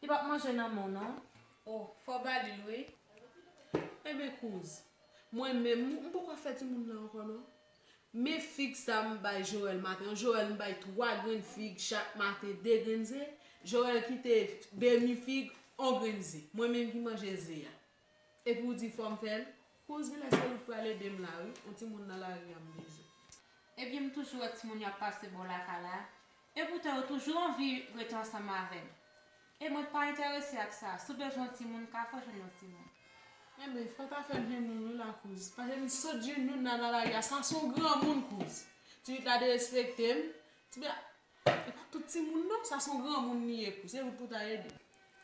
Li pap manje nan menw non. Oh fò balil wi. Enben kouz. Mwen menm m poko fè timoun nan ankò non. Men fig sa m bay Joel maten an Joel m bay 3 grenn fig chak maten 2 grenn ze Joel kite demi fig on grenn ze mwen menm ki manje ze a. Epi ou di fòm fèl. Kouzin eske ou pral edem la wi on timoun nan lari an bndye. Ebyen m toujou wè timoun yo ap pase bò lakay la epoutan yo toujou anvi ret ansanm avèm e mwen pa entèrese ak sa si w bezwen yon timoun ka fè jwenn yon timoun. Enben fòw ta fèl jwenn youn wi la kouz pase m sot jwenn youn la nan lari a sa son granmoun kouz ti pit la derespektem ti pit la E pa tout timoun non, sa son granmoun li ye kou, se ou pou ta ede.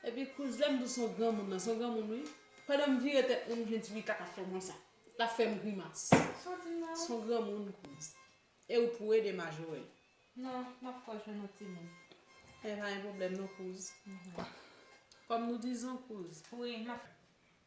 Epi kouz lèm di son granmoun nan, son granmoun wi. Pandanm vire tèt mwen m jwenn ti Rita kap fè mwen sa. Lap fèm grimas. Son granmoun kouz. E ou pou ede Majorel. Non, map fè w jwenn yon timoun. E pa gen pwoblèm non kouz. Kòm nou dizon kouz. Wi, map.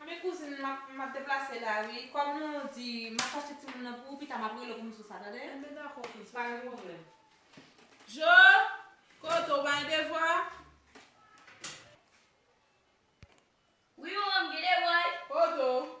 Anmweyy kouzin map map deplase la wi kòm nou di map achte timoun nan pou ou pita map rele w pou m sou sa tande. Anben dakò kouzin pa gen pwoblèm. Djo! Kote w bay devwa a? Wi manman m gen devwa wi. Kote w?